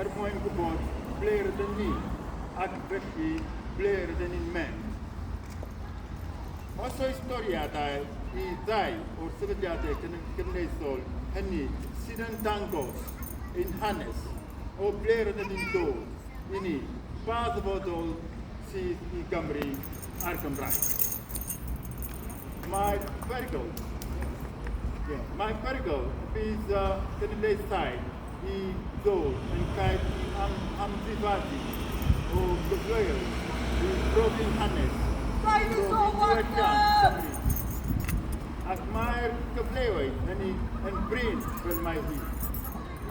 er mwyn gwybod ble rydym ni ac felly ble rydym ni'n mynd. Os oes doriadau i ddau o'r sefydliadau gymunedol hynny sydd yn dangos ein hanes o ble rydym ni'n dod i ni, ba ddyfodol sydd i Gymru a'r Gymraeg. Mae perygl, yeah, mae perygl bydd uh, genedlaethau i ddod yn gair i am amddifadu o gyfleoedd i brofi'n hanes profi diwylliant Cymru, ac mae'r cyfleoedd hynny yn brin fel mae hi,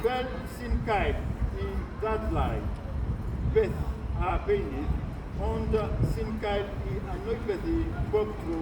fel sy'n gair i ddadlau beth a beunydd ond sy'n gair i anwybyddu bob tro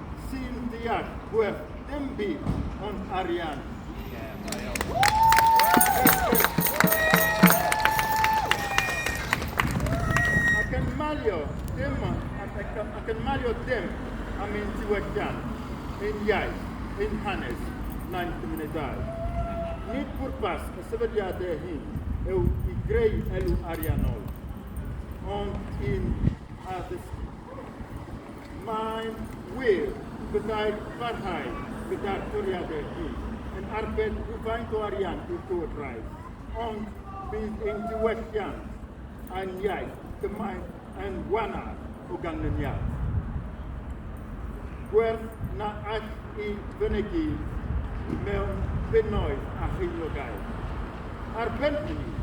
sy'n deall gwell dim byd ond arian. Ac yn malio dim ac yn malio dim am ein diwylliant, ein iaith, ein hanes, na'n cymunedau. Nid pwrpas y sefydliadau hyn yw i greu elw ariannol, ond i'n addysgu. Mae'n wir, byddai'r parhau gyda'r toriadau hyn yn arbed rhywfaint o arian i'r Llywodraeth, ond bydd ein diwylliant a'n iaith gymaint yn wanar o ganlyniad. Gwerth na all i fynegi mewn bunnoedd a cheiniogau. Ar ben hynny,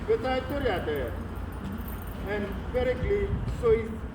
byddai'r toriadau yn beryglu swydd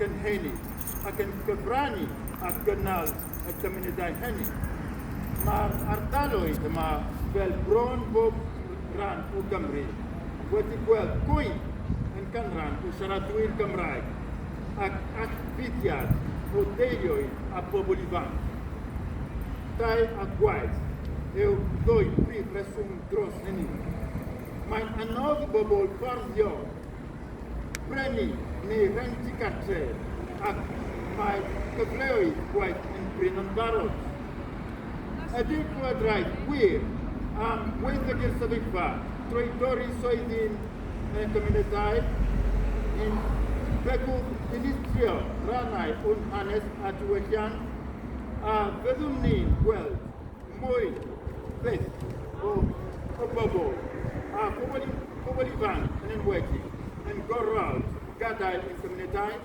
gynhenid ac yn cyfrannu at gynnal y cymunedau hynny. Mae'r ardaloedd yma, fel bron bob rhan o Gymru, wedi gweld gwaith yn ganran o siaradwyr Gymraeg ac allfudiad o deuluoedd a phobl ifanc. Dau a gwaith yw ddwy prif reswm dros hynny. Mae'n anodd i bobl fforddio brenin neu rent y gartref ac mae cyfleoedd gwaith yn brin yn barod. Ydy'r Llywodraeth wir am waethygu'r sefyllfa drwy dorri swyddi'n y cymunedau? Yn begwth dinistrio rannau o'n hanes a diwylliant? A fyddwn ni'n gweld Mwy, beth, o, o bobl, a pobl, pobl ifanc yn enwedig, yn gorfod gadael ein cymunedau.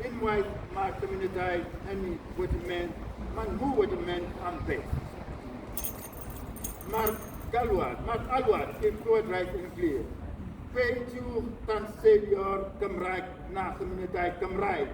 Unwaith mae'r cymunedau hynny wedi mynd, maen nhw wedi mynd am beth. Mae'r galwad, mae'r alwad i'r Llywodraeth yn glir. Peidiwch tanseilio'r Gymraeg na chymunedau Cymraeg.